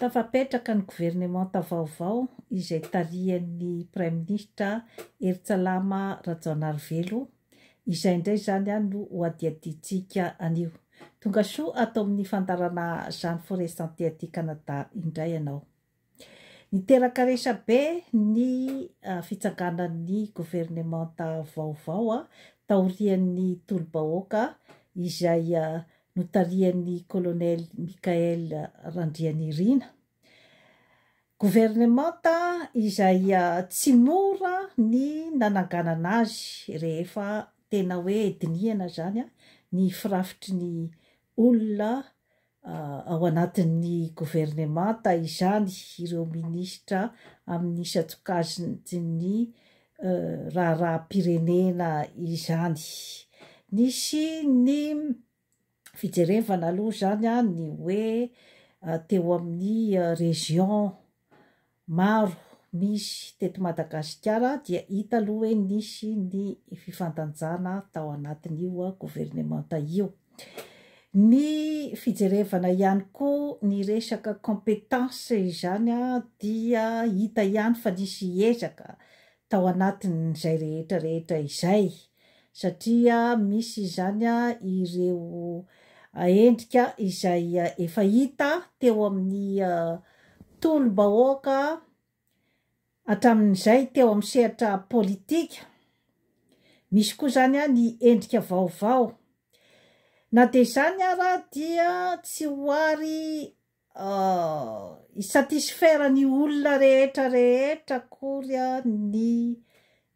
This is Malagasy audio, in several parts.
Tafapetraka ny governemanta vaovao izay tarihan'ny Praiminisitra Heritsalama Rajaonarivelo, izay indray izany no hohadihadiantsika anio. Tongasoa ato amin'ny fandaharana Jean Foresante aty Canada indray ianao. Niteraka resabe ny fitsanganan'ny governemanta vaovao taorian'ny tolo-bahoaka izay notarihan'ny Kolonely Michaël Randrianirina. Governemanta izay tsy mora ny nananganana azy rehefa tena hoe dinihana izany ny firafitry ny olona ao anatin'ny governemanta izany ireo minisitra amin'ny isan-tsokajin'ny raharaham-pirenena izany. Nisy ny fijerevana aloha izany ny hoe teo amin'ny région maro nisy teto Madagasikara dia hita aloha hoe nisy ny fifandanjana tao anatin'io governemanta io. Ny fijerevana ihany koa ny resaka compétence izany dia hita ihany fa nisy ezaka tao anatin'izay rehetra rehetra izay satria misy izany ireo endrika izay efa hita teo amin'ny tolom-bahoaka hatramin'izay teo amin'ny sehatra politika, misy koa izany ny endrika vaovao, na dia izany ara dia tsy ho ary Hi-satisfaire ny olona rehetra rehetra akory ny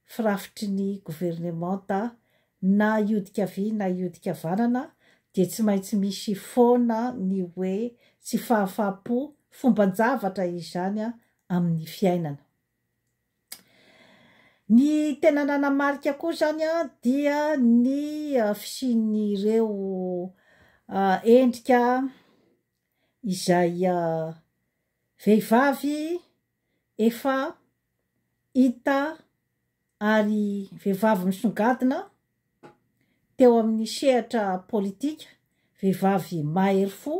firafitry ny governemanta na hiodika havia na hiodika havanana dia tsy maintsy misy foana ny hoe tsy fahafahampo fomban-javatra izany amin'ny fiainana. Ny tena nanamarika koa izany dia ny fisian'ireo endrika. izay vehivavy efa hita ary vehivavy misongadina teo amin'ny sehatra politika, vehivavy mahery fo,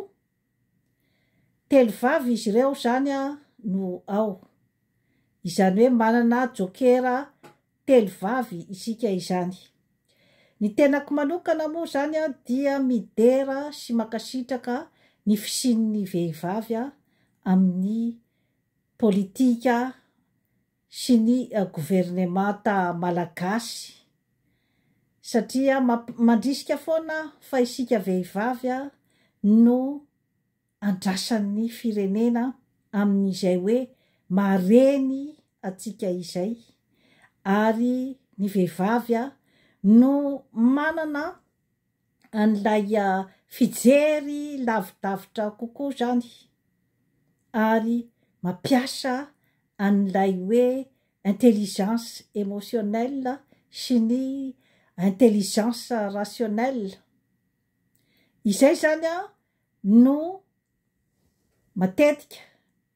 telo vavy izy ireo izany no ao, izany hoe manana jokera telo vavy isika izany. Ny tenako manokana moa izany dia midera sy mankasitraka ny fisian'ny vehivavy amin'ny politika sy ny governemanta malagasy satria mandrisika foana fa isika vehivavy no andrasan'ny firenena amin'izay hoe mahareny antsika izay ary ny vehivavy no manana an'ilay fijery lavidavitra kokoa izany ary mampiasa an'ilay hoe intelligence émotionnelle sy ny intelligence rationnelle izay izany no matetika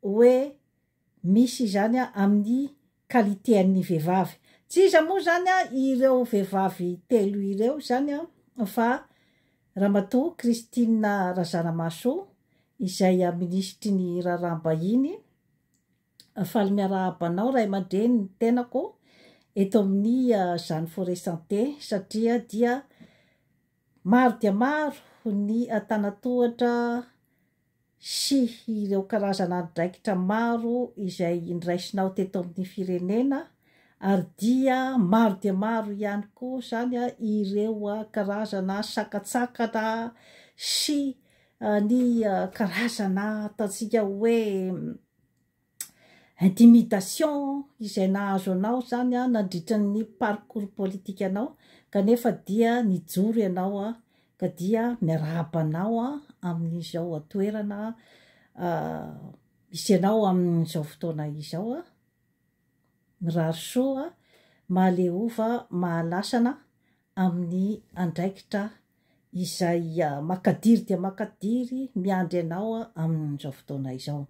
hoe misy izany amin'ny qualité an'ny vehivavy. Tsy iza moa izany ireo vehivavy telo ireo izany fa Ramatoa Christine Razanamahasoa izay Minisitry ny Raharaham-bahiny. Faly miarahaba anao ray aman-dreny ny tenako eto amin'ny Jeanne Forêt Santé satria dia Maro dia maro ny antanatohatra sy ireo karazan'andraikitra maro izay nraisinao teto amin'ny firenena ary dia maro dia maro ihany koa izany ireo karazana sakantsakana sy ny karazana ataontsika hoe intimidation izay nahazo anao izany nandritra ny parcours politique anao kanefa dia nijoro ianao ka dia miarahaba anao amin'izao toerana misy anao amin'izao fotoana izao mirary soa mahaleova mahalasana amin'ny andraikitra izay makadiry dia makadiry miandry anao amin'izao fotoana izao.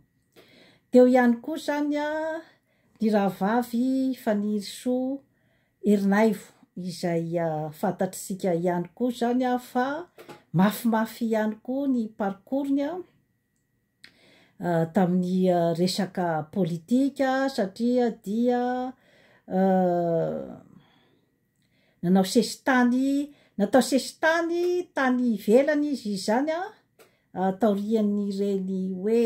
Teo ihany koa izany ny rahavavy Fanirisoa Ernaivo izay fantatr'isika ihany koa izany fa mafimafy ihany koa ny parcours-ny tamin'ny resaka politika satria dia Nanao sesitany, natao sesitany tany ivelany izy izany taorian'ireny hoe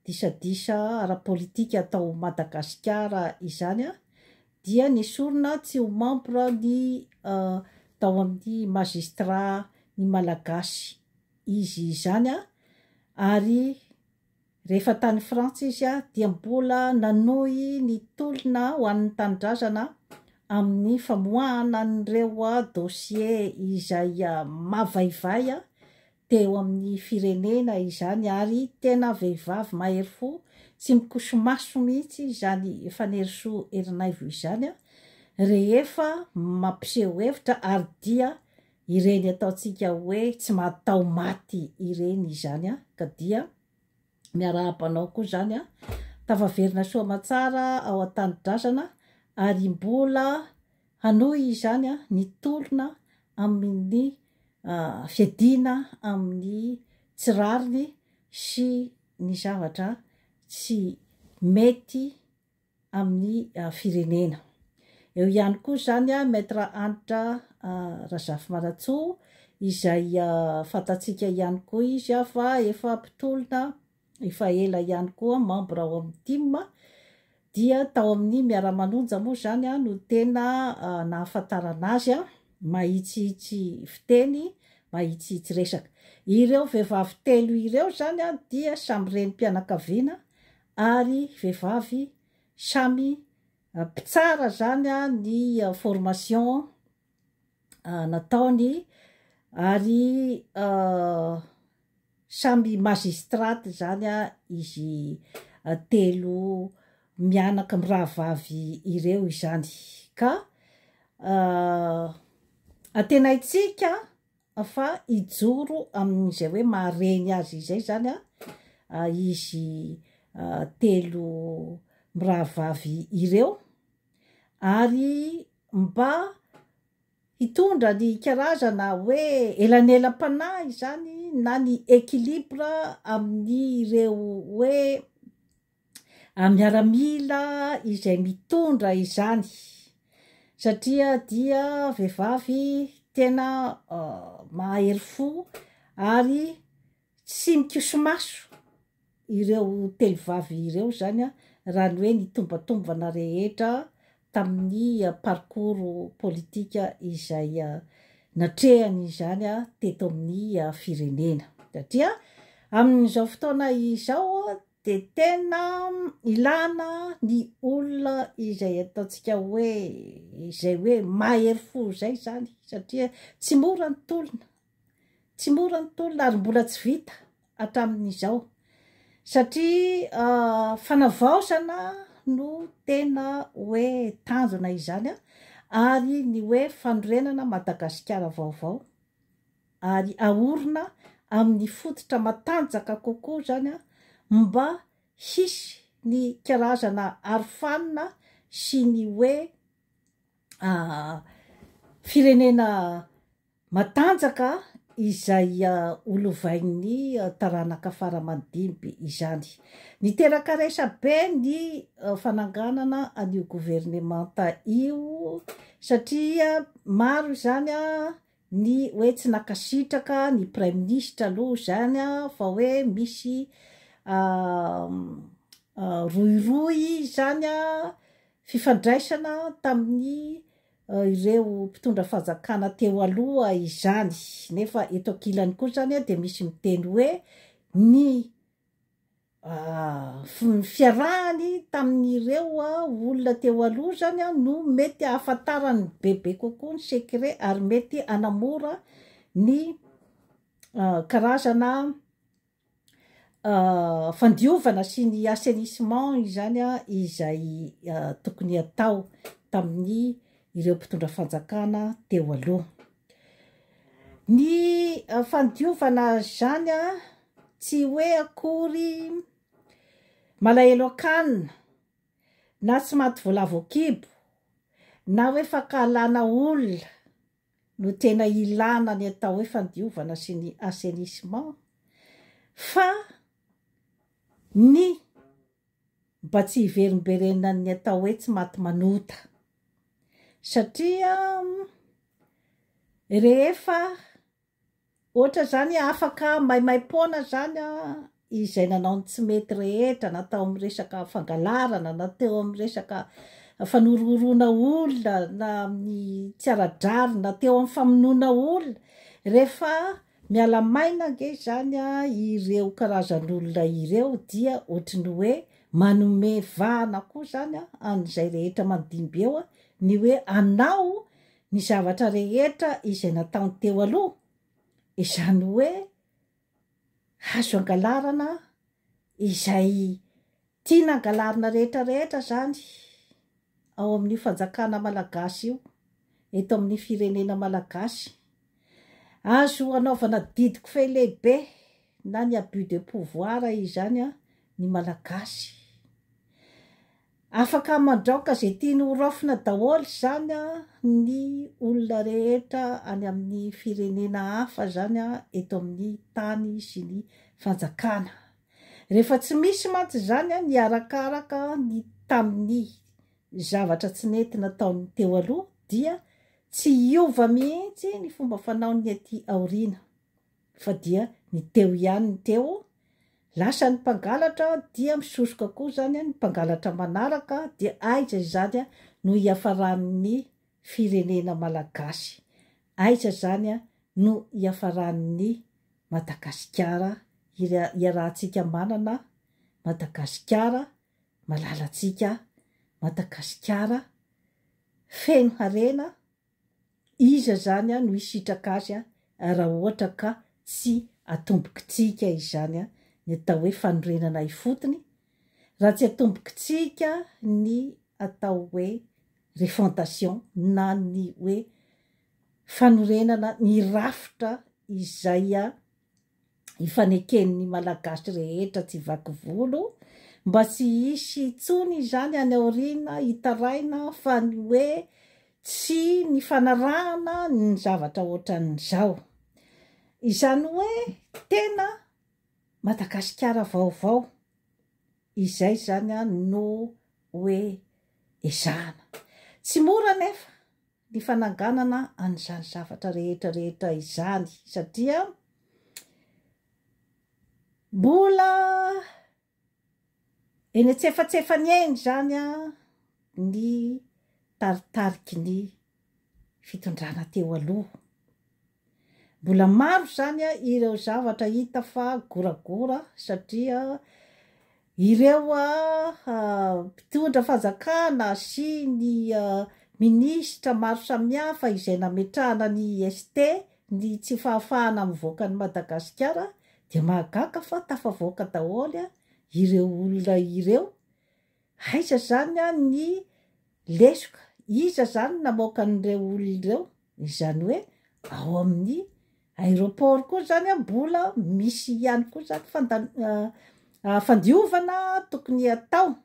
disadisa ara-politika atao Madagasikara izany dia nesorina tsy ho membre ny tao amin'ny Magistrat ny Malagasy izy izany ary Rehefa tany Frantsa izy dia mbola nanohy ny tolona ho an'ny tanindrazana amin'ny famoahana an'ireo dosie izay mavaivay teo amin'ny firenena izany ary tena vehivavy mahery fo tsy mikoso-maso mihitsy izany Fanirisoa Erinaivo izany rehefa mampiseho hevitra ary dia Ireny ataontsika hoe tsy mataho maty ireny izany an, ka dia miarahaba anao koa izany an, tafaverina soa aman-tsara ao an-tanidrazana ary mbola hanohy izany an ny tolona amin'ny fiadiana amin'ny tsy rariny sy ny zavatra tsy mety amin'ny firenena. Eo ihany koa izany Maître Hanitra Razafimanantsoa izay fantatsika ihany koa izy fa efa mpitolona efa ela ihany koa membre ao amin'ny tim dia tao amin'ny miara-manonja moa izany no tena nahafantarana azy mahitsihitsy fiteny, mahitsihitsy resaka. Ireo vehivavy telo ireo izany dia samy renim-pianakaviana ary vehivavy samy mpitsara zany ny formation nataony ary samy magistrate zany izy telo mianaka mirahavavy ireo izany ka antenaintsika fa hijoro amin'izay hoe mahareny azy izay izany izy telo mirahavavy ireo, ary mba hitondra ny karazana hoe elanelam-panahy izany na ny équilibre amin'ireo hoe a miaramila izay mitondra izany satria dia vehivavy tena mahery fo ary tsy mikosomaso ireo telo vavy ireo zany a raha ny hoe ny tombantombana rehetra tamin'ny parcours politika izay natrehany izany a teto amin'ny firenena satria amin'izao fotoana izao de tena ilana ny olona izay ataontsika hoe izay hoe mahery fo izay zany satria tsy mora ny tolona tsy mora ny tolona ary mbola tsy vita hatramin'izao satria ah, fanavaozana no tena hoe tanjona izany ah, ary ny hoe fanorenana Madagasikara vaovao. ary aorina amin'ny fototra matanjaka kokoa izany mba hisy ny karazana arofanina sy ny hoe firenena matanjaka izay ho lovain'ny taranaka fara aman-dimby izany. Niteraka resabe ny fananganana an'io governemanta io satria maro izany Ny hoe tsy nankasitraka ny praiminisitra aloha izany fa hoe misy rohirohy izany fifandraisana tamin'ny ireo mpitondra fanjakana teo aloha izany nefa eto ankilany koa izany dia misy miteny hoe ny ny fiarahany tamin'ireo olona teo aloha izany no mety hahafantarany bebe kokoa ny sekre ary mety hanamora ny karazana fandiovana sy ny assainissement izany izay tokony hatao tamin'ny ireo mpitondra fanjakana teo aloha. Ny fandiovana zany a tsy hoe akory malahelo an-kanina na tsy maty voalavo an-kibo na hoe fankahalana olona no tena ilana ny atao hoe fandiovana sy ny assainissement fa ny mba tsy hiverimberenan'ny atao hoe tsy maty manota. Satria rehefa ohatra izany afaka maimaim-poana izany izay nanao ny tsy mety rehetra na tao amin'ny resaka fangalarana na teo amin'ny resaka fanorihoroana olona na amin'ny tsy ara-drariny na teo amin'ny famonoana olona, rehefa Miala maina ange izany a, ireo karazan'olona ireo dia ohatry ny hoe manome vahana koa izany a, an'izay rehetra mandimby eo a, ny hoe anao ny zavatra rehetra izay nataony teo aloha, izany hoe azo angalarana izay Tiana angalarina rehetra rehetra izany ao amin'io fanjakana malagasy io, eto amin'ny firenena malagasy. Azo hanaovana didy kofehy lehibe na ny abus de pouvoir izany ny malagasy. Afaka mandraoka izay tiany ho raofina daholo izany ny olona rehetra any amin'ny firenena hafa izany eto amin'ny tany sy ny fanjakana. Rehefa tsy misy mantsy izany ny arakaraka ny tamin'ny zavatra tsy nety nataon'ny teo aloha dia tsy hiova mihitsy ny fomba fanaon'ny aty aoriana fa dia ny teo ihany ny teo, lasa ny mpangalatra dia misosoka koa izany ny mpangalatra manaraka dia aiza izany no hiafaran'ny firenena malagasy aiza zany no hiafaran'ny Madagasikara hiarahantsika manana Madagasikara malalantsika Madagasikara feno harena iza zany no hisitraka azy raha ohatra ka tsy atombokitsika izany ny atao hoe fanorenana ifotony raha tsy atombokitsika ny atao hoe refondation na ny hoe fanorenana ny rafitra izay ifaneken'ny Malagasy rehetra tsy vaky volo mba tsy hisy intsony izany any aoriana hitaraina fa ny hoe tsy nifanarahana ny zavatra ohatran'izao. Izany hoe tena Madagasikara vaovao, izay izany no hoe ezahana. Tsy mora anefa ny fananganana an'izany zavatra rehetra rehetra izany satria mbola Eny antsefatsefany eny izany ny taritariky ny fitondrana teo aloha. Mbola maro izany ireo zavatra hita fa goragora satria ireo mpitondra fanjakana sy ny minisitra maro samihafa izay nametrahana ny IST Ny tsy fahafahana mivoaka an'i Madagasikara dia mahagaga fa tafavoaka daholo ireo olona ireo. Aiza izany ny lesoka? Iza izany no namoaka an'ireo olona ireo? Izany hoe ao amin'ny aéroport koa izany mbola misy ihany koa izany fandiovana tokony hatao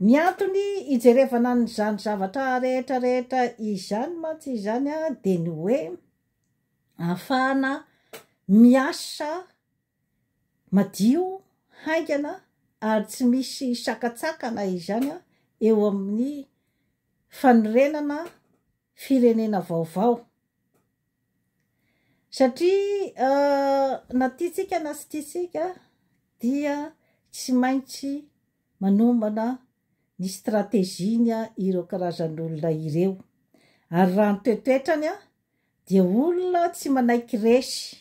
Ny antony ijerevana an'izany zavatra rehetra rehetra izany mantsy izany dia ny hoe ahafahana miasa madio, haingana ary tsy misy sakantsakana izany eo amin'ny fanorenana, firenena vaovao. Satria na tiantsika na tsy tiantsika dia tsy maintsy manomana ny stratégie-ny ireo karazan'olona ireo. Ary raha ny toetoetrany dia olona tsy manaiky resy.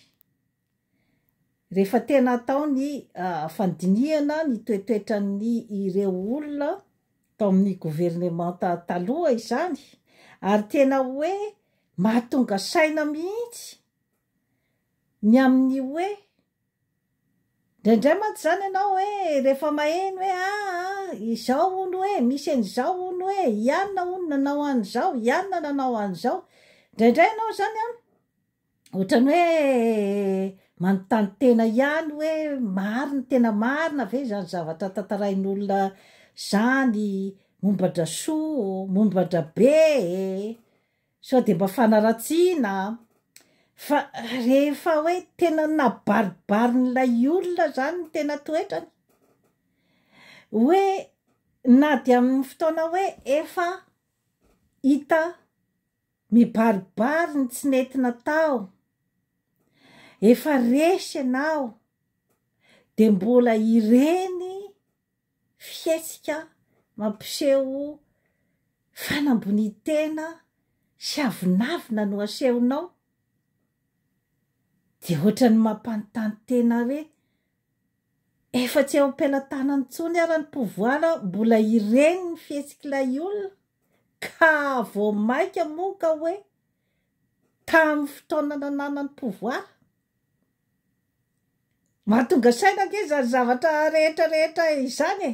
Rehefa tena atao ny fandinihana ny toetoetran'ny ireo olona tao amin'ny governemanta taloha izany ary tena hoe mahatonga saina mihitsy ny amin'ny hoe indraindray mantsy izany ianao hoe rehefa maheno hoe aa izao hono hoe misy an'izao hono hoe ianona hono nanao an'izao, ianona nanao an'izao, indraindray ianao izany an! Ohatran'ny hoe manontany tena ihany hoe marina, tena marina ve izany zavatra tantarain'olona izany momba an-dRasoa, momba an-dRabe e! sao dia mba fanaratsiana an! fa rehefa hoe tena nabaribarin'ilay olona izany ny tena toetrany, hoe na dia amin'ny fotoana hoe efa hita Mibaribary ny tsy nety natao, efa resy ianao dia mbola ireny fihetsika mampiseho fanambonian-tena sy avonavona no asehonao dia ohatran'ny mampanontany tena re Efa tsy eo am-pelatanany intsony ara ny pouvoir mbola ireny ny fihetsik'ilay olona ka vao maika moa ka hoe tamin'ny fotoana nananany pouvoir. Mahatonga saina ange izany zavatra rehetra rehetra izany e!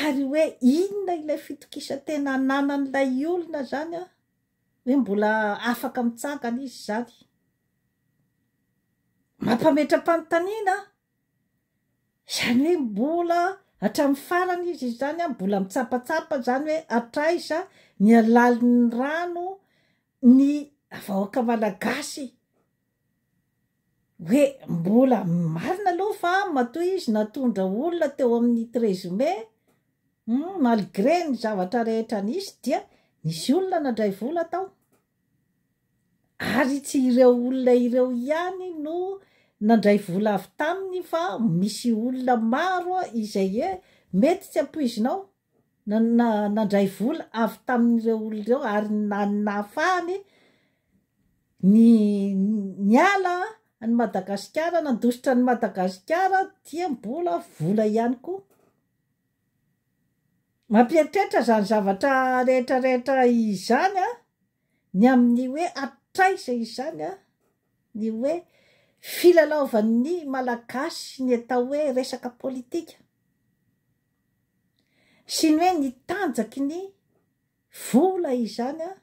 Ary hoe inona ilay fitokisan-tena ananan'ilay olona zany an? Hoe mbola afaka mitsangana izy zany? Mampametra-panontaniana an? Zany hoe mbola hatramin'ny farany izy izany an, mbola mitsapatsapa zany hoe hatraiza ny halalin'ny rano ny vahoaka malagasy hoe mbola marina aloha fa matoa izy natondra olona teo amin'ny treize mai hum malgré ny zavatra rehetra nisy dia nisy olona nadray vola tao ary tsy ireo olona ireo ihany no nandray vola avy taminy fa misy olona maro izay e mety tsy ampoizinao nandray vola avy tamin'ireo olona ireo ary nahafahany ny niala an'i Madagasikara, nandositra an'i Madagasikara dia mbola vola ihany koa. Mampieritreritra izany zavatra rehetrarehetra izany ny amin'ny hoe hatraiza izany ny hoe filalaovan'ny Malagasy ny atao hoe resaka politika. sy ny hoe ny tanjaky ny vola izany an,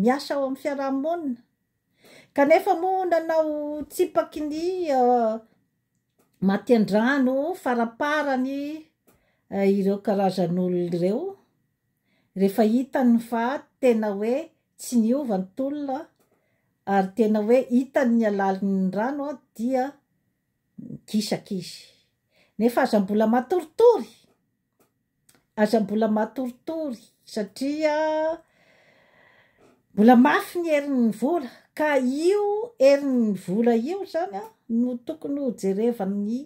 miasa ao amin'ny fiaraha-monina, kanefa moa nanao tsipaky ny maty an-drano faraparany ireo karazan'olona ireo rehefa hitany fa tena hoe tsy niova ny tolona ary tena hoe hitany ny halalin'ny rano dia Migisaka izy. Nefa aza mbola matoritory! Aza mbola matoritory satria mbola mafy ny herin'ny vola ka io herin'ny vola io zany a no tokony ho jerevan'ny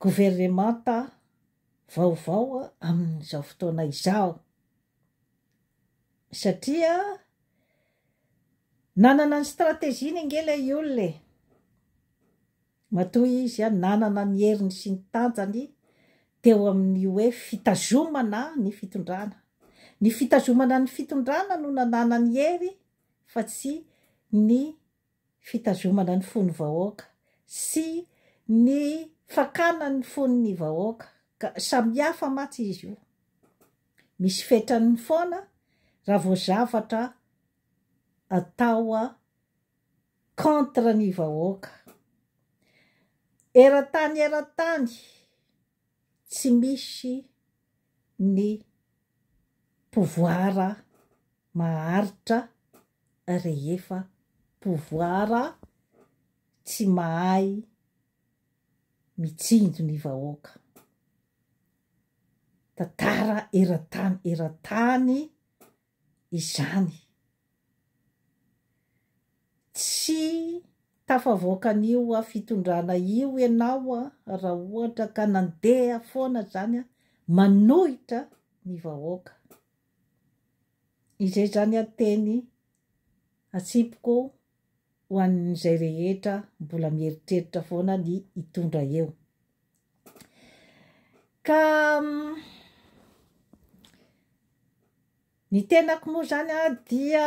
governemanta vaovao amin'izao fotoana izao satria Nanana ny strategie-ny ange ilay olona e! Matoa izy an nanana ny heriny sy ny tanjany teo amin'ny hoe fitazomana ny fitondrana. Ny fitazomana ny fitondrana no nanana ny hery fa tsy ny fitazomana ny fon'ny vahoaka sy ny fakana ny fon'ny vahoaka ka samihafa mantsy izy io. Misy fetrany foana raha vao zavatra atao contre ny vahoaka. Eran-tany eran-tany. tsy misy ny pouvoir maharitra rehefa pouvoir tsy mahay mitsinjo ny vahoaka. Tantara eran-tany eran-tany izany. Tsy tafavoaka an'io fitondrana io ianao raha ohatra ka nandeha foana izany manohitra ny vahoaka. Izay izany ateny atsipiko. ho an'izay rehetra mbola mieritreritra foana ny hitondra eo. Ka ny tenako moa zany a dia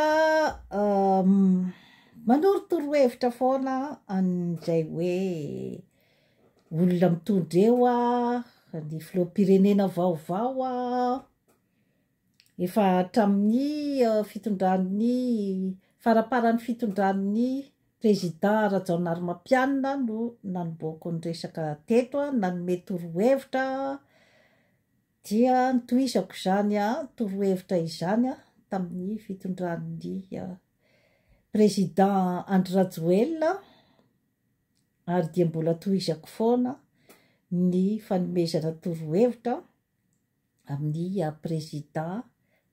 manorotoro hevitra foana an'izay hoe olona mitondra eo a, ny filoham-pirenena vaovao a, Efa hatramin'ny fitondran'ny faramparan'ny fitondran'ny Prezidà Rajaonarimampianina no nanombohako ny resaka teto a, nanome torohevitra aho dia nitohizako izany torohevitra izany tamin'ny fitondran'ny Prezidà Andry Rajoelina ary dia mbola tohizako foana ny fanomezana torohevitra amin'ny président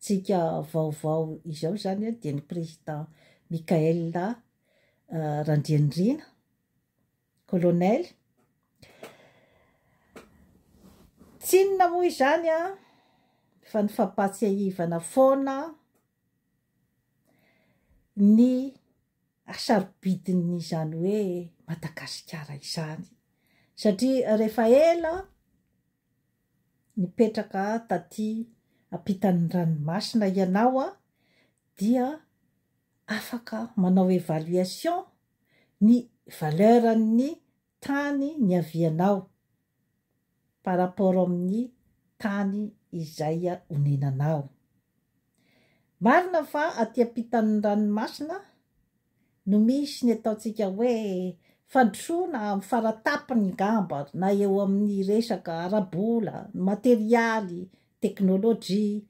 tsika vaovao izao izany dia ny président Michael Randrianirina, colonel, tsy inona moa izany fa ny fampahatsiahivana foana ny hasarobidin'izany hoe Madagasikara izany satria rehefa ela Nipetraka tatỳ ampitan'ny ranomasina ianao dia afaka manao évaluation ny valeur-n'ny tany niavianao par rapport amin'ny tany izay onenanao. Marina fa atỳ ampitan'ny ranomasina, no misy ny ataontsika hoe fandrosoana amin'ny faratapony ngamba na eo amin'ny resaka ara-bola, materialy, teknolojia,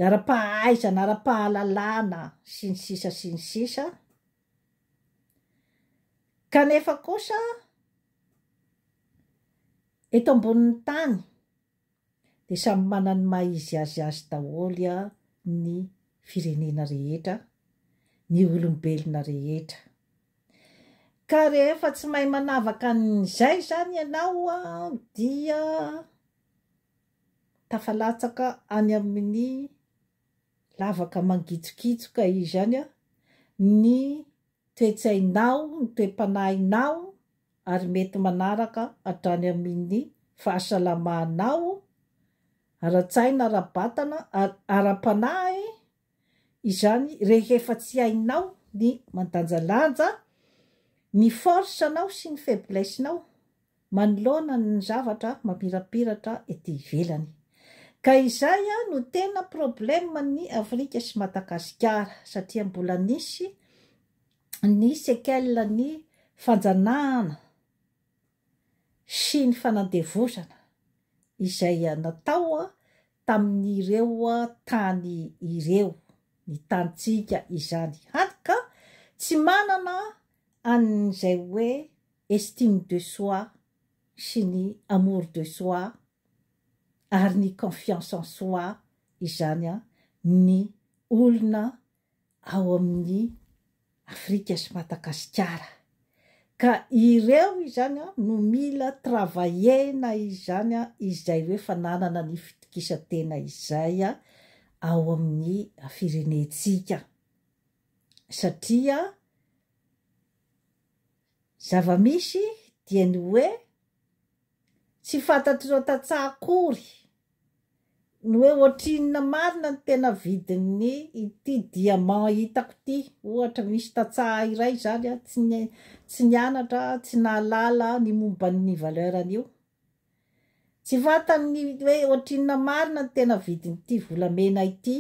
ara-pahaizana, ara-pahalalana sy ny sisa sy ny sisa kanefa kosa eto ambonin'ny tany. dia samy manana ny maha izy azy azy daholo ny firenena rehetra, ny olombelona rehetra. Ka rehefa tsy mahay manavaka an'izay izany ianao dia tafalatsaka any amin'ny lavaka mangitsokitsoka izany ny toe-tsainao, ny toe-panahinao ary mety manaraka hatrany amin'ny fahasalamanao ara-tsaina, ara-batana ary ara-panahy izany rehefa tsy hainao ny mandanjalanja ny force-nao sy ny faiblesse-nao manoloana ny zavatra mamirapiratra ety ivelany. Ka izay no tena problème ny Afrika sy Madagasikara satria mbola nisy ny séquelles ny fanjanahana sy ny fanandevozana izay natao tamin'ireo tany ireo, ny tanintsika izany, hany ka tsy manana an'izay hoe. estime de soi sy ny amour de soi ary ny confiance en soi izany ny olona ao amin'ny Afrika sy Madagasikara ka ireo izany no mila travailler-na izany izay hoe fananana ny fitokisan-tena izay ao amin'ny firenentsika satria Zava-misy dia ny hoe tsy fantatr'ireo tantsaha akory ny hoe ohatrinona marina ny tena vidin'ny ity diamant hitako ity. Ohatra, misy tantsaha iray izany a, tsy ny- tsy nianatra, tsy nahalala ny momba ny valeur an'io. Tsy fantany ny hoe ohatrinona marina ny tena vidin'ity volamena ity.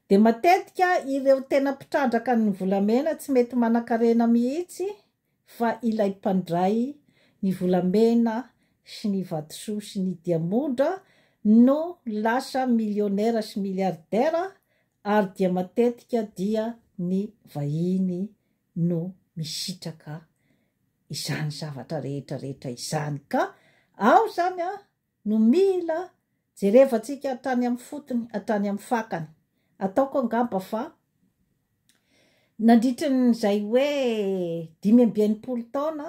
Dia matetika ireo tena mpitrandraka ny volamena tsy mety manankarena mihitsy fa ilay mpandray ny volamena sy ny vatosoa sy ny diamondra no lasa millionnaire sy milliardaire ary dia matetika dia ny vahiny no misitraka izany zavatra rehetra rehetra izany ka ao izany an no mila jerevantsika hatrany amin'ny fotony, hatrany amin'ny fakany. Ataoko angamba fa nandritra an'izay hoe dimy amby enimpolo taona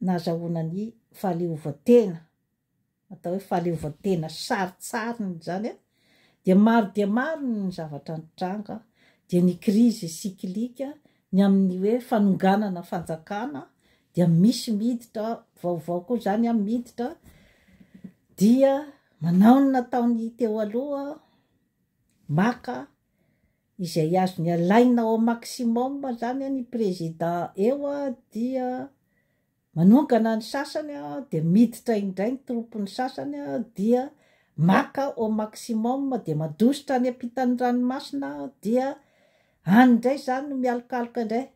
nahazahoana ny fahaleovantena, atao hoe fahaleovantena sarintsariny izany a, dia maro dia maro ny zavatra nitranga, dia ny krizy cyclique Ny amin'ny hoe fanonganana fanjakana dia misy miditra vaovao koa izany an, miditra dia manao ny nataony teo aloha, maka izay azony alaina au maximum izany an ny président eo dia Manongana ny sasany dia miditra indray ny troupe ny sasany dia maka au maximum dia mandositra any ampitan'ny ranomasina dia any indray izany no mialokaloka indray.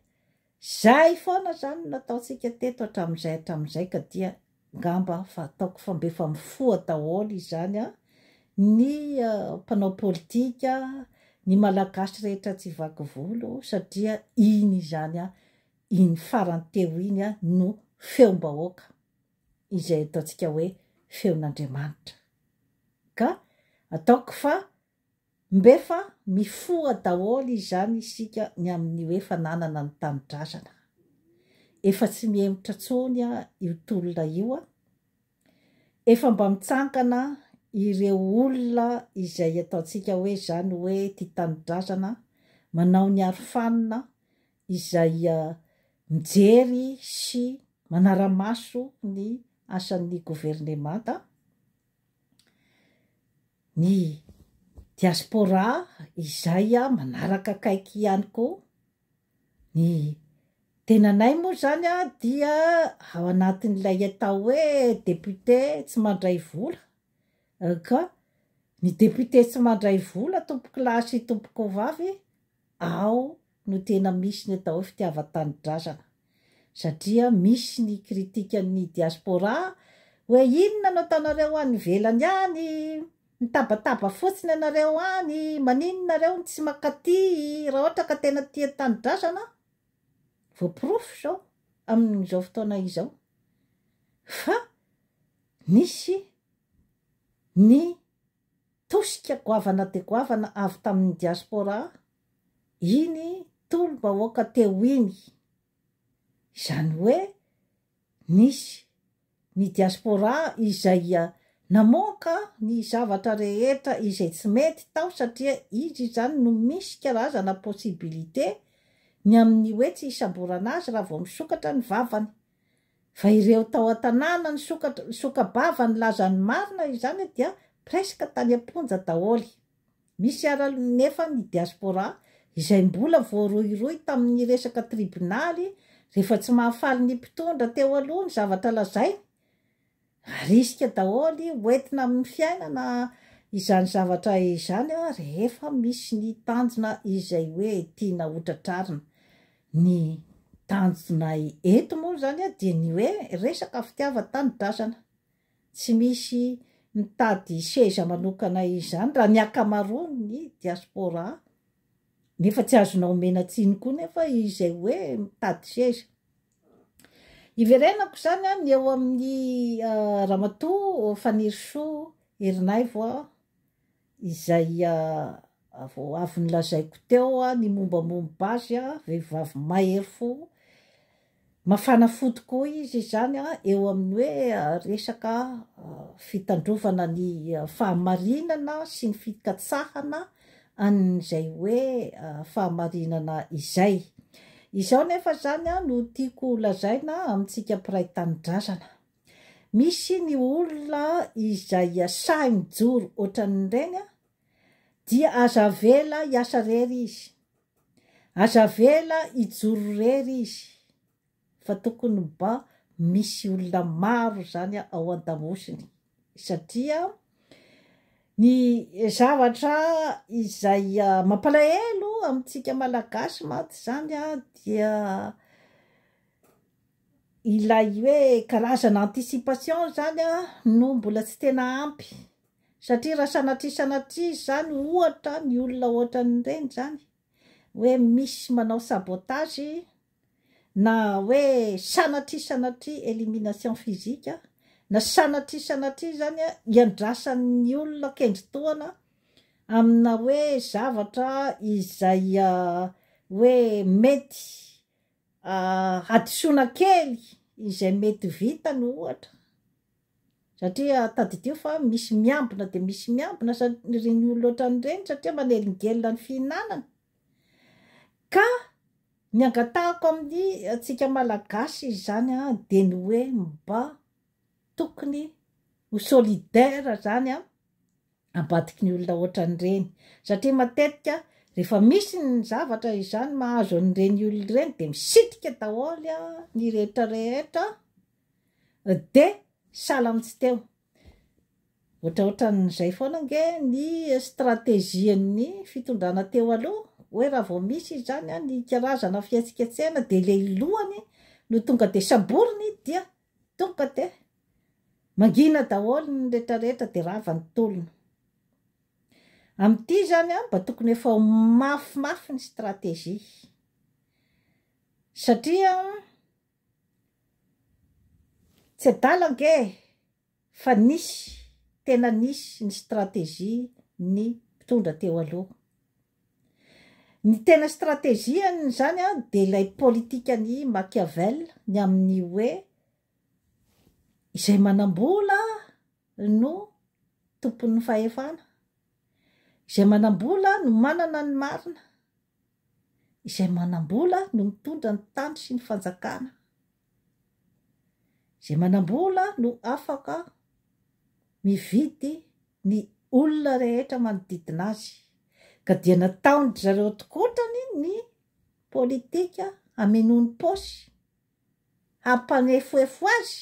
Izay foana izany no nataontsika teto hatramin'izay hatramin'izay ka dia ngamba fa ataoko fa mba efa mifoha daholo izany ny mpanao politika, ny malagasy rehetra tsy vaky volo satria iny izany iny farany teo iny no feom-bahoaka izay ataontsika hoe feon'Andriamanitra. Ka ataoko fa mb'efa mifoha daholo izany isika ny amin'ny hoe fananana ny tanindrazana. Efa tsy mihemotra intsony io tolona io. Efa mba mitsangana ireo olona izay ataontsika hoe izany hoe tia tanindrazana, manao ny arofanina, izay mijery sy manara-maso ny asan'ny governemanta, ny diaspora izay manaraka akaiky ihany koa, ny tenanay moa izany dia ao anatin'ilay atao hoe député tsy mandray vola ka ny député tsy mandray vola tompokolahy sy tompokovavy ao no tena misy ny atao hoe fitiavan-tanindrazana satria misy ny critiquen'ny diaspora hoe inona no ataonareo any ivelany any, mitabataba fotsiny ianareo any, maninona nareo no tsy mankaty raha ohatra ka tena tia tanindrazana, voaporofo izao amin'izao fotoana izao fa nisy ny tosika goavana dia goavana avy tamin'ny diaspora. iny tolom-bahoaka teo iny. Izany hoe nisy ny diaspora izay namoaka ny zavatra rehetra izay tsy mety tao satria izy izany no misy karazana possibilité ny amin'ny hoe tsy hisamborana azy raha vao misokatra ny vavany. Fa ireo tao an-tanàna nisoka-bava nilaza ny marina izany dia presque tany am-ponja daholo. Misy ara nefa ny diaspora izay mbola voarohirohy tamin'ny resaka tribonaly rehefa tsy mahafaly ny mpitondra teo aloha ny zavatra lazainy. Arisika daholo hoentina amin'ny fiainana izany zavatra izany rehefa misy ny tanjona izay hoe tiana hotratrarina. Ny tanjonay eto moa izany dia ny hoe resaka fitiavan-tanindrazana. Tsy misy mitady seza manokana izany raha ny ankamaroan'ny diaspora nefa tsy azonao omena tsiny koa nefa izay hoe mitady seza. Iverenako izany an, ny eo amin'ny Ramatoa Fanirisoa Erinaivo an, Izay avy nolazaiko teo ny mombamomba azy, vehivavy mahery fo, mafana fo tokoa izy izany eo amin'ny hoe resaka fitandrovana ny fahamarinana sy ny fikatsahana an'izay hoe fahamarinana izay. Izao nefa izany no tiako lazaina amintsika mpiray tanindrazana. Misy ny olona izay sahy mijoro ohatran'ireny an, dia aza avela hiasa irery izy, aza avela hijoro irery izy fa tokony mba misy olona maro izany ao an-damosiny satria ny zavatra izay mampalahelo amintsika malagasy mantsy izany dia Ilay hoe karazana anticipation izany an, no mbola tsy tena ampy, satria raha sanatria sanatria izany ohatra ny olona ohatran'ireny izany hoe misy manao sabotage na hoe sanatria sanatria elimination physique na sanatria sanatria izany an iandrasan'ny olona kendri-tohana amina hoe zavatra izay hoe mety Hadisoana kely izay mety vitany ohatra satria tadidio fa misy miambina dia misy miambina ireny olona ohatran'ireny satria manelingelina ny fihinanana ka ny angatahako amin'ny antsika malagasy izany a dia ny hoe mba tokony ho solidaire zany a ambadiky ny olona ohatran'ireny satria matetika rehefa misy ny zavatra izany mahazo an'ireny olona ireny dia misitrika daholo ny rehetra rehetra dia sahala amin'ny tsy teo ohatraohatran'izay foana ange ny strategian'ny fitondrana teo aloha hoe raha vao misy izany ny karazana fihetsiketsehana dia ilay lohany no tonga dia saboriny dia Tonga de mangina daholo ny rehetra rehetra de rava ny tolona. Amin'ity zany an, mba tokony efa ho mafy mafy ny stratégie. Satria an, tsy adala ange Fa nisy, tena nisy ny stratégie ny mpitondra teo aloha. Ny tena stratégie-ny izany an, dia ilay politikan'i Machiavel ny amin'ny hoe, izay manam-bola no tompon'ny fahefana, izay manam-bola no manana ny marina, izay manam-bola no mitondra ny tany sy ny fanjakana. Izay manam-bola no afaka mividy ny olona rehetra manodidina azy, ka dia nataon-dry zareo antokotrany ny politika hamenoany paosy, hampanefoefo azy,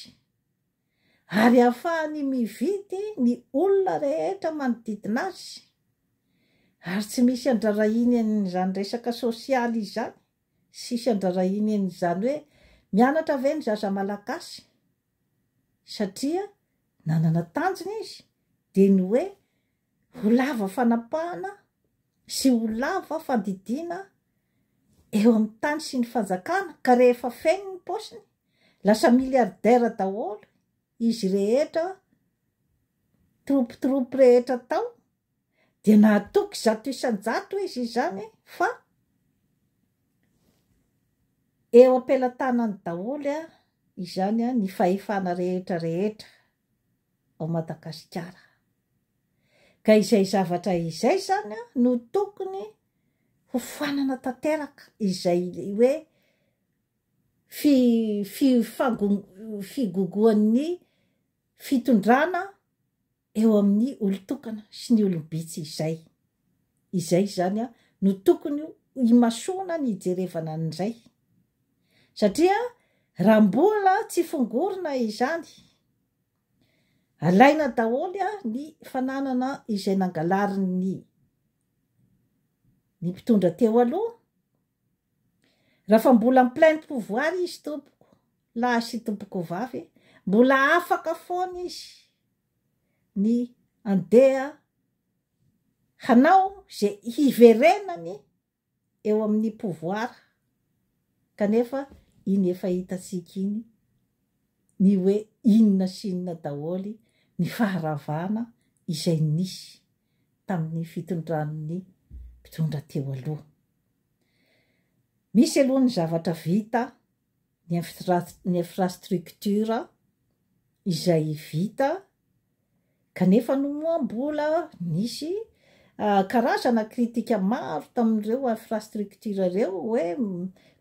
ary hahafahany mividy ny olona rehetra manodidina azy, ary tsy misy andrarahiny an'izany resaka sosialy izany. Tsisy andrarahina eny izany hoe mianatra ve ny zaza malagasy satria nanana tanjona izy dia ny hoe ho lava fanapahana sy ho lava fandidiana eo amin'ny tany sy ny fanjakana ka rehefa feno ny paosiny lasa milliardaire daholo izy rehetra troupes troupes rehetra tao dia nahatoky zato isan-jato izy izany fa eo am-pelatanany daholo izany ny fahefana rehetra rehetra ao Madagasikara. Ka izay zavatra izay izany no tokony ho fanana tanteraka izay hoe fi, fi, figogoan'ny fitondrana eo amin'ny olon-tokana sy ny olom-bitsy izay. Izay izany no tokony ho imasoana ny hijerevana an'izay. Satria raha mbola tsy fongorina izany, alaina daholo ny fananana izay nangalarin'ny ny mpitondra teo aloha Raha fa mbola en pleine pouvoir izy tompoko lahy sy tompoko vavy mbola afaka foana izy ny andeha hanao ze hiverenany eo amin'ny pouvoir kanefa iny efa hitantsika iny ny hoe inona sy inona daholo ny faharavana izay nisy tamin'ny fitondran'ny mpitondra teo aloha. Misy aloha ny zavatra vita, ny ny infrastructure izay vita kanefa no moa mbola nisy karazana kritika maro tamin'ireo infrastructure ireo hoe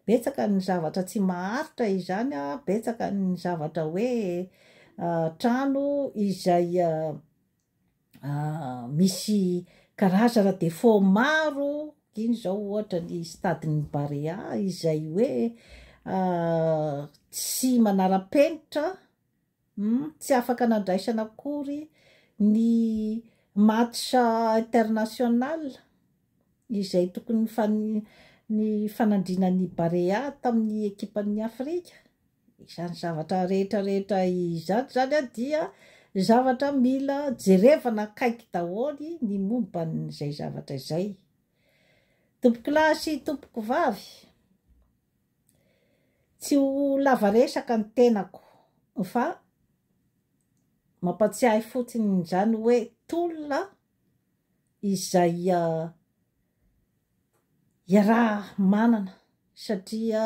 betsaka ny zavatra tsy maharitra izany an, betsaka ny zavatra hoe trano izay misy karazana défaut maro iny zao ohatra ny stade ny Barea izay hoe tsy manara-penitra hmm, tsy afaka nandraisana akory ny match international izay tokony ny fanandrinan'ny Barea tamin'ny ekipan'ny Afrika Izany zavatra rehetra rehetra izany zany dia zavatra mila jerevana akaiky daholo ny momba an'izay zavatra izay. Tompokolahy sy tompokovavy, tsy ho lava resaka ny tenako fa mampatsiahy fotsiny izany hoe tolona izay iaraha-manana satria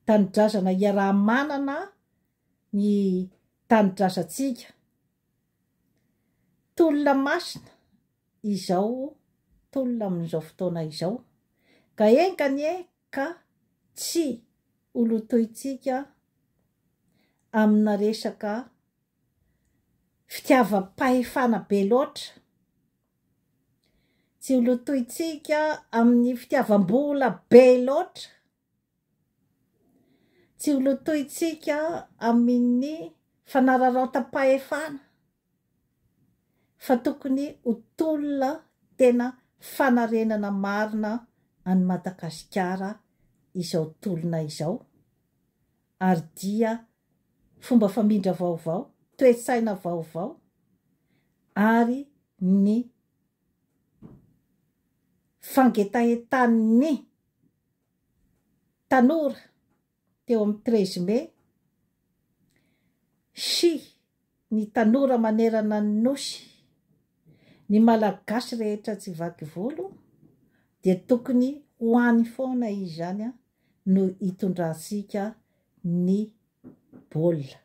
tanindrazana iaraha-manana ny tanindrazantsika. Tolona masina izao tolona amin'izao fotoana izao ka enga anie ka tsy ho lotointsika amina resaka fitiavam-pahefana be loatra. Tsy ho lotointsika amin'ny fitiavam-bola be loatra, tsy ho lotointsika amin'ny fanararaotam-pahefana fa tokony ho tolona tena fanarenana marina an'i Madagasikara izao tolona izao Ary dia fomba famindra vaovao, toe-tsaina vaovao ary ny fangetahetan'ny tanora teo amin'ny treize mai sy Ny tanora manerana ny Nosy, ny Malagasy rehetra tsy vaky volo dia tokony ho any foana izany no hitondrantsika ny baolina.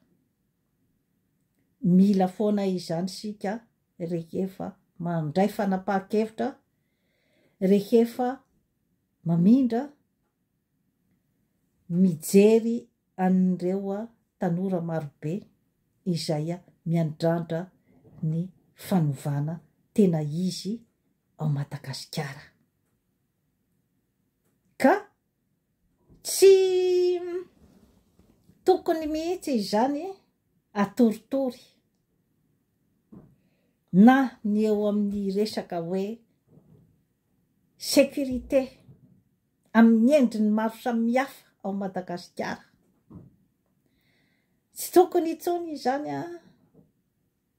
Mila foana izany isika rehefa mandray fanapahan-kevitra, rehefa mamindra Mijery an'ireo tanora marobe izay miandrandra ny fanovana tena izy ao Madagasikara. Ka tsy tokony mihitsy izany atoritory na ny eo amin'ny resaka hoe sécurité. amin'ny endriny maro samihafa ao Madagasikara. Tsy tokony intsony izany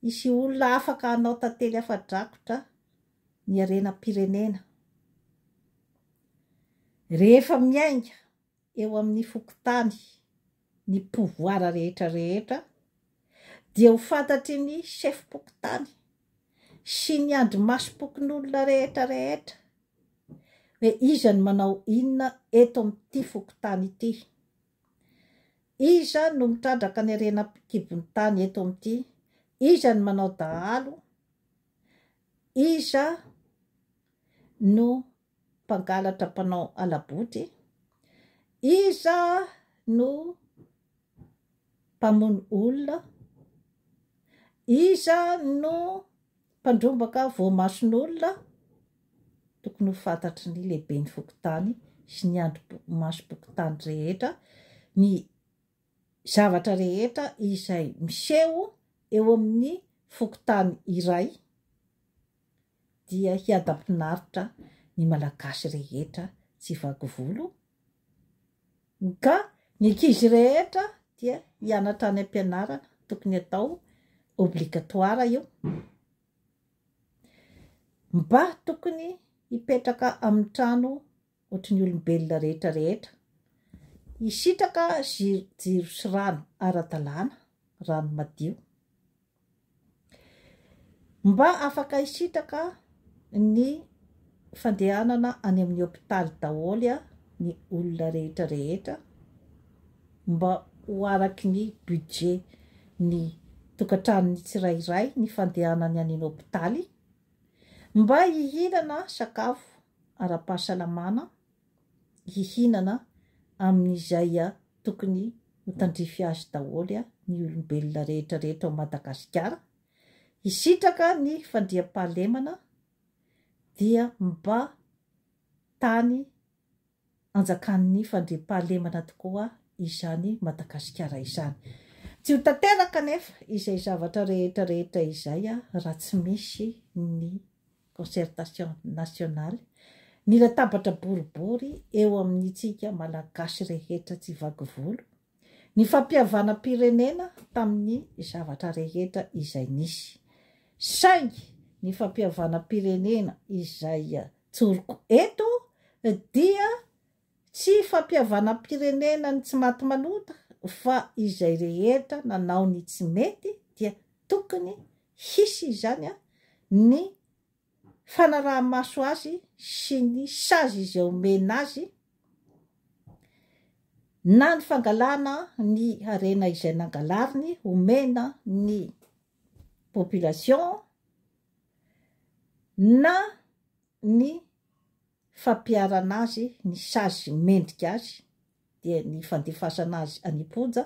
hisy olona afaka hanao tantely afa-drakotra ny harenam-pirenena. Rehefa miainga eo amin'ny fokontany ny pouvoir rehetra rehetra dia ho fantatry ny chef pokontany sy ny andrimasom-pokonolona rehetra rehetra hoe iza no manao inona eto amin'ity fokontany ity, iza no mitrandraka ny harena an-kibon'ny tany eto amin'ity, iza no manao dahalo, iza no mpangalatra mpanao hala-boty, iza no mpamono olona, iza no mpandrombaka voamason'olona, tokony ho fantatry ny lehiben'ny fokontany sy ny andrimasom-pokontany rehetra ny zavatra rehetra izay miseho eo amin'ny fokontany iray dia hiadam-pinaritra ny Malagasy rehetra tsy vaky volo, ka ny ankizy rehetra dia hianatra any am-pianarana, tokony atao obligatoire io, mba tokony hipetraka amin'ny trano ohatry ny olombelona rehetra rehetra. Hisitraka jiro sy rano ara-dalàna, rano madio. Mba afaka hisitraka ny fandehanana any amin'ny hopitaly daholo ny olona rehetra rehetra, mba ho araky ny budget ny tokantranony tsirairay ny fandehanany any an-hopitaly, Mba hihinana sakafo ara-pahasalamana, hihinana amin'izay tokony ho tandrify azy daholo ny olombelona rehetra rehetra ao Madagasikara, hisitraka ny fandriampahalemana dia mba tany anjakan'ny fandriampahalemana tokoa izany Madagasikara izany. Tsy ho tanteraka anefa izay zavatra rehetra rehetra izay raha tsy misy ny concertation nationale, ny latabatra boribory eo amin'itsika Malagasy rehetra tsy vaky volo, ny fampihavanam-pirenena tamin'ny zavatra rehetra izay nisy. Saingy ny fampihavanam-pirenena izay tsoriko eto dia tsy fampihavanam-pirenenan'ny tsy maty manota fa izay rehetra nanao ny tsy mety dia tokony hisy izany ny fanaraha-maso azy sy ny sazy izay omena azy na ny fangalana ny harena izay nangalariny omena ny population na ny fampiharana azy ny sazy mendrika azy dia ny fandefasana azy any am-ponja,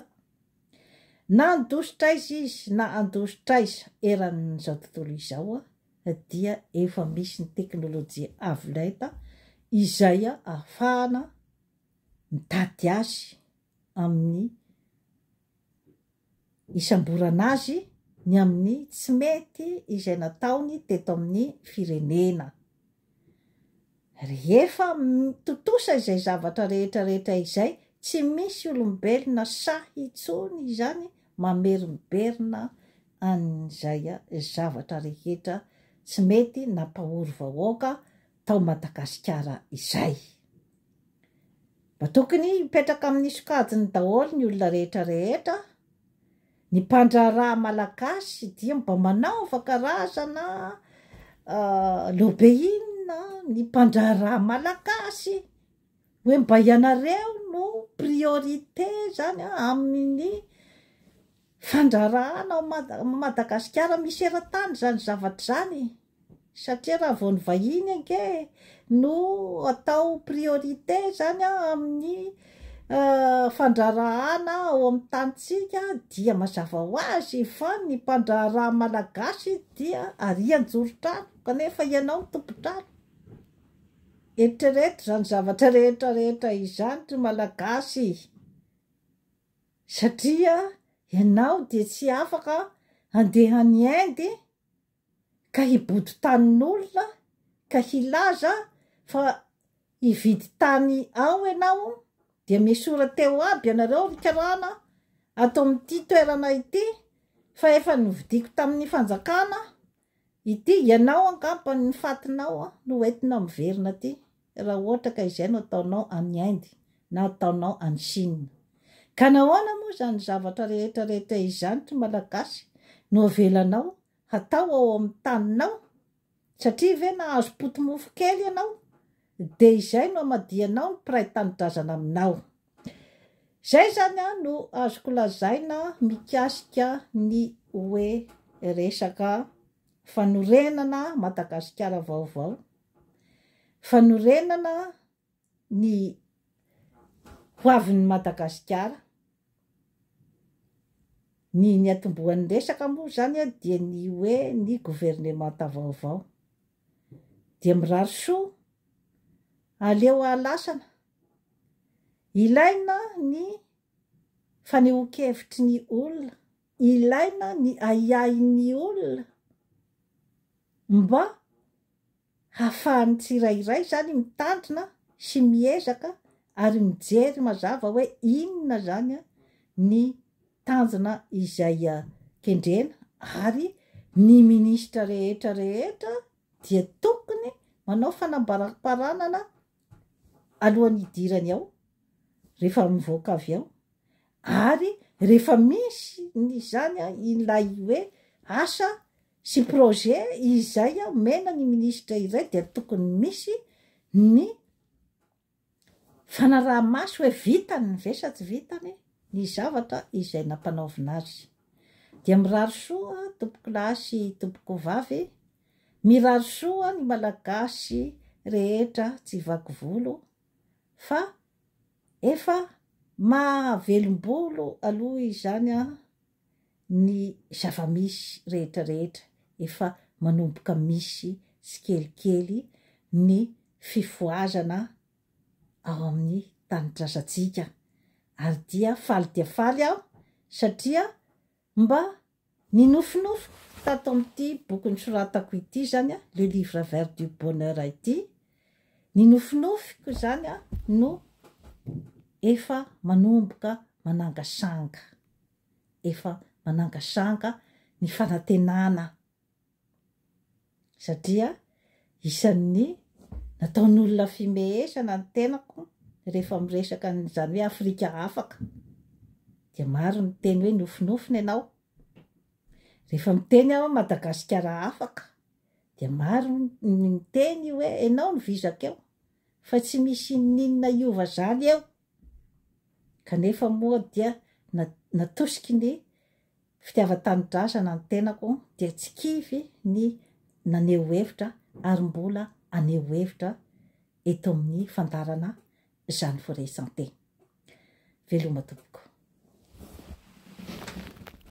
na handositra aiza izy na handositra aiza eran'izao tontolo izao dia efa misy ny teknolojia avo lenta izay ahafahana mitady azy amin'ny hisamborana azy ny amin'ny tsy mety izay nataony teto amin'ny firenena. Rehefa tontosa izay zavatra rehetra rehetra izay, tsy misy olombelona sahy intsony izany mamerimberina an'izay zavatra rehetra tsy mety nampahory vahoaka tao Madagasikara izay. Mba tokony hipetraka amin'ny sokajiny daholo ny olona rehetra rehetra, ny mpandraharaha malagasy dia mba manaova karazana lobeina ny mpandraharaha malagasy, hoe mba ianareo no priorité zany an amin'ny fandraharahana ao Madagasikara misy eran-tany zany zavatra zany e! satria raha vao ny vahiny ange no atao priorité zany an amin'ny fandraharahana ao amin'ny tanintsika dia mazava ho azy fa ny mpandraharaha malagasy dia arian-jorotrano kanefa ianao no tompon-trano, eritrereto izany zavatra rehetra rehetra izany ry malagasy e! satria ianao dia tsy afaka handeha any Inde ka hibodo tanin'olona ka hilaza fa hividy tany ao ianao dia miesora teo aby ianareo ry karana ato amin'ity toerana ity fa efa novidiako tamin'ny fanjakana ity, ianao angamba ny fatinao no entina miverina aty. raha ohatra ka izay no ataonao any Inde na ataonao any Chine. Ka nahoana moa izany zavatra rehetra rehetra izany ry Malagasy no avelanao hatao ao amin'ny taninao? Satria ve nahazo poti-mofo kely ianao dia izay no hamadihanao ny mpiray tanindrazana aminao? Izay izany no azoko lazaina mikasika ny hoe resaka fanorenana Madagasikara vaovao Fanorenana ny hoavin'i Madagasikara. Ny niatombohan'ny resaka moa izany dia ny hoe ny governemanta vaovao. Dia mirary soa, aleo hahalasana. Ilaina ny fanehoan-kevitry ny olona. Ilaina ny ahiahin'ny olona mba hahafahan'ny tsirairay izany mitandrina sy miezaka ary mijery mazava hoe inona izany ny tanjona izay kendrena ary ny minisitra rehetra rehetra dia tokony manao fanambaram-paranana alohan'ny hidirany ao, rehefa mivoaka avy ao, ary rehefa misy ny izany ilay hoe asa sy projet izay omena ny minisitra iray dia tokony misy ny fanaraha-maso hoe vitany ve sa tsy vitany ny zavatra izay nampanaovina azy. Dia mirary soa tompokolahy sy tompokovavy Mirary soa ny malagasy rehetra tsy vaky volo fa efa maha velombolo aloha izany an ny zavamisy rehetra rehetra efa manomboka misy tsikelikely ny fifohazana ao amin'ny tanindrazantsika ary dia faly dia faly aho satria Mba ninofinofiko tato amin'ity boky nosoratako ity izany, Le Livre Vert du Bonheur ity, ny nofinofiko izany no efa manomboka manangasanga, efa manangasanga ny fanantenana satria isan'ny nataon'olona fimehesana ny tenako rehefa miresaka an'izany hoe Afrika afaka, dia maro ny miteny hoe nofinofina ianao, rehefa miteny aho hoe Madagasikara afaka dia maro ny miteny hoe ianao no vizaka eo, fa tsy misy inon'inona hiova izany eo, Kanefa moa dia natosiky ny fitiavan-tanindrazana ny tenako dia tsy kivy ny naneho hevitra ary mbola haneho hevitra eto amin'ny fandaharana izany Foret Santé. Veloma tompoko.